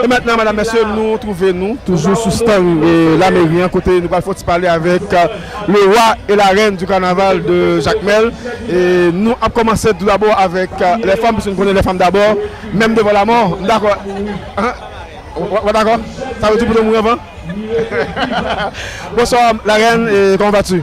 E maintenant madam mesye nou trouve nou toujou sou stand la mairie an kote nou pral fon ti pale avek le roi et la reine du carnaval de jacmel e nou ap komanse tout d'abord avek les femmes puisque nou konnen les femmes d'abord meme devant la mort m dakò ou pa dakò sa vle di pou nou mouri anvan bonsoir la reine comment vas tu?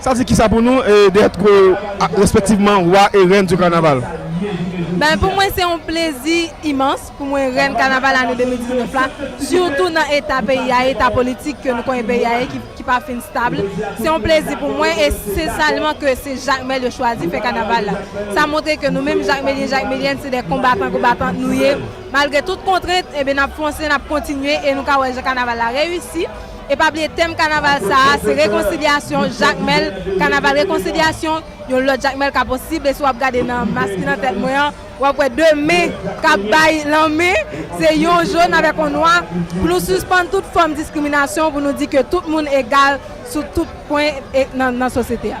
Sa di kisa pou nou de èt gwo respektivman Wa e Rèn di Kanaval? Ben pou mwen se yon plezi imans pou mwen Rèn Kanaval ane 2019 la, sitou nan eta peyi a ye, eta politik ke nou konnen peyi a ye ki pa fin stab. Se yon plezi pou mwen e se sèlman ke se Jakmèl yo chwazi fè Kanaval la. Sa montre ke nou menm Jakmelyen, Jakmelyèn se de konbatan, konbatant nou ye. Malgre tout kontrent, enben n ap fonse, n ap kontinye e nou ka wè jan Kanaval la reyisi. E pa bliye tèm kanaval sa a se rekonsilyasyon, Jakmèl, kanaval rekonsilyasyon, yon lòt Jakmèl ka posib e si w ap gade nan mas ki nan tèt mwen an w ap wè 2 men k ap bay lanmen, se yon jòn avèk yon nwa pou nou sispann tout fòm diskriminasyon pou nou di ke tout moun egal sou tout pwen nan sosyete a.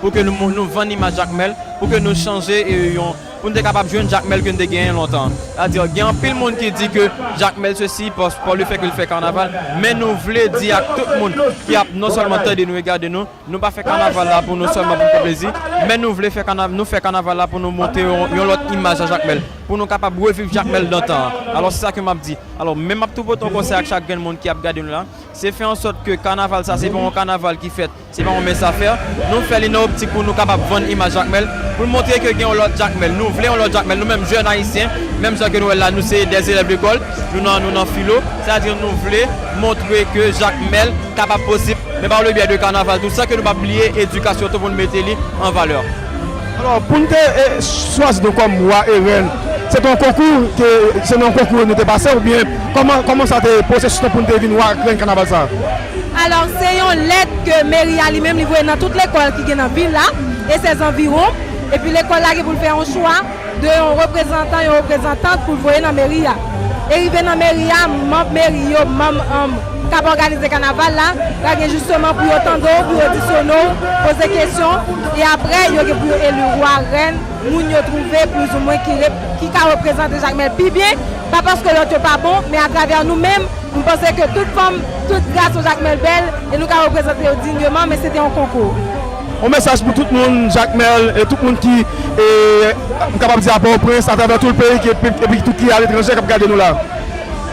pou ke nou vann imaj Jakmèl, pou ke nou chanje yon, pou nou te kapab jwenn Jakmèl ke nou te genyen lontan an. Sètadi, gen anpil moun ki di ke Jakmèl sesi, pa le fè ke li fè kanaval, men nou vle di ak tout moun ki ap non sèlman tande nou e gade nou, nou pa fè kanaval la pou nou sèlman pou nou fè plezi, men nou vle fè, nou fè kanaval la pou nou montre yon lòt imaj a Jakmèl, pou nou kapab reviv Jakmèl dantan an. Alò, se sa ke m ap di. Alò, men m ap tou pote yon konsèy ak chak grenn moun ki ap gade nou la, se fè an sòt ke kanaval sa, se pa yon kanaval ki fèt Se pa yon mens afè. Nou fè li nan optik pou nou kapab vann imaj Jakmèl, pou n montre ke gen yon lòt Jakmèl. Nou vle yon lòt Jakmèl. Nou menm jèn Ayisyen, menm jan ke nou wè l la, nou se dè elèv lekòl, nou nan nou nan filo, sètadi nou vle montre ke Jakmèl kapab posib, men pa le byè de kanaval tou, san ke nou pa bliye edikasyon tou pou nou mete li an valè. Alò, pou n te chwazi nou kòm wa e rèn, se te yon konkou ke, se nan yon konkou nou te pase oubyen kòman, kòman sa te, pwosesis lan pou nou te vin wa ak rèn kanaval sa a? Alò, se yon lèt ke meri a li menm li voye nan tout lekòl ki gen nan vil la e sè zanviwon, epi lekòl la gen pou l fè yon chwa de yon reprezantan, yon reprezantant pou l voye nan meri a. E rive nan meri a, manb meri yo, manb anm k ap òganize kanaval la pral gen jisteman pou yo tande w, pou yo odisyone w, poze kesyon e aprè yo gen pou yo eli wa, rèn, moun yo twouve plizoumwen ki rep, ki ka reprezante Jakmèl pi byen. Pa paske lòt yo pa bon, men atravè nou menm, m panse ke tout fanm, tout gras yon Jakmèl bèl, e nou ka reprezante yo digneman, men se te yon konkou. Yon mesaj pou tout moun Jakmèl, e tout moun ki, m kapab di a Pòtoprens, atravè tout peyi, epi tout ki aletranje k ap gade nou la.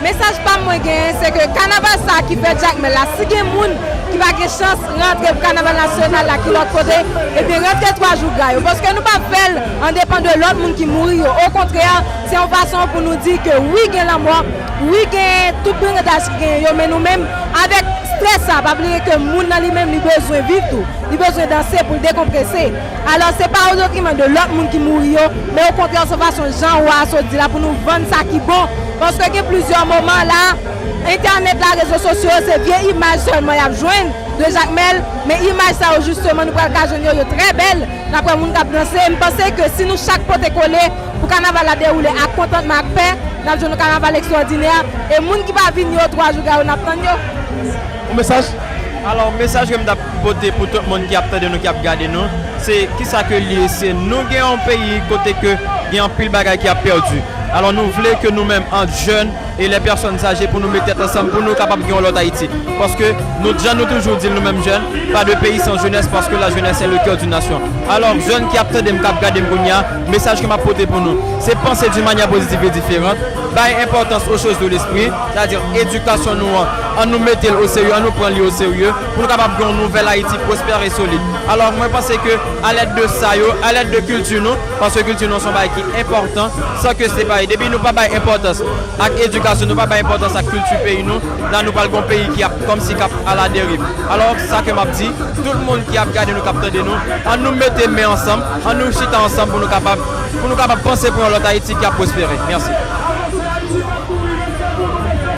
Mesaj pa m mwen genyen, se ke kanaval sa ki fèt Jakmèl la, si gen moun ki pa gen chans rantre pou kanaval nasyonal la ki lòt kote, ebyen rantre twa jou gra yo, paske nou pa fè l an depan de lòt moun ki mouri yo, okontrè, Se yon fason pou nou di ke wi gen lanmò, wi gen tout brigandas ki genyen yo men nou menm avèk strès sa, pa bliye ke moun nan li menm li bezwen viv tou, li bezwen danse pou l dekonprese. Alò se pa o detriman de lòt moun ki mouri yo men o kontrè se yon fason jan Wa a sot di la pou nou vann sa ki bon paske gen plizyè moman la entènèt la, rezo sosyo yo se vye imaj sèlman y ap jwenn de Jakmèl men imaj sa yo jisteman nou pral ka jwenn yo, yo trè bèl, n ap wè moun k ap danse. M panse ke si nou chak pote kole. Pou kanaval la dewoule ak kontantman ak pè, n ap jwenn yon kanaval ekstwòdinè e moun ki pa vini yo, twa jou gayo n ap tann yo. Yon mesaj? Alò, mesaj ke m t ap pote pou tout moun ki ap tande nou, ki ap gade nou, se kisa ke l ye, se nou gen yon peyi kote ke gen anpil bagay ki ap pèdi. Alò nou vle ke nou menm ant jèn e lè pèsòn zaje pou nou met tèt ansanm pou nou kapab gen yon lòt Ayiti. Paske nou, jan nou toujou di l nou menm jèn, pas de pays sans jeunesse paske la jeunesse est le coeur d'une nation. Alò jèn ki ap tande m, k ap gade m kounye a, Mesaj ke m ap pote pou nou, se panse d'une manière positive et différente, bay enpòtans aux choses de l'esprit, sa di edikasyon nou an, an nou mete l o serye, an nou pran li o serye, pou nou kapab gen yon nouvèl Ayiti prospère et solide. Alò, mwen panse ke a lèd de sa yo, a lèd de kilti nou, paske kilti nou an se yon bagay ki enpòtan, san ke se pa, depi nou pa bay enpòtans ak edikasyon, nou pa bay enpòtans ak kilti peyi nou, la nou pral gen yon peyi ki ap kòmsi k ap a la deriv. Alò, sa ke m ap di, tout moun ki ap gade nou, k ap tande nou, an nou mete men ansanm, An nou chita ansanm pou nou kapab pou nou kapab panse pou yon lòt Ayiti ki ap pwospere. Mèsi.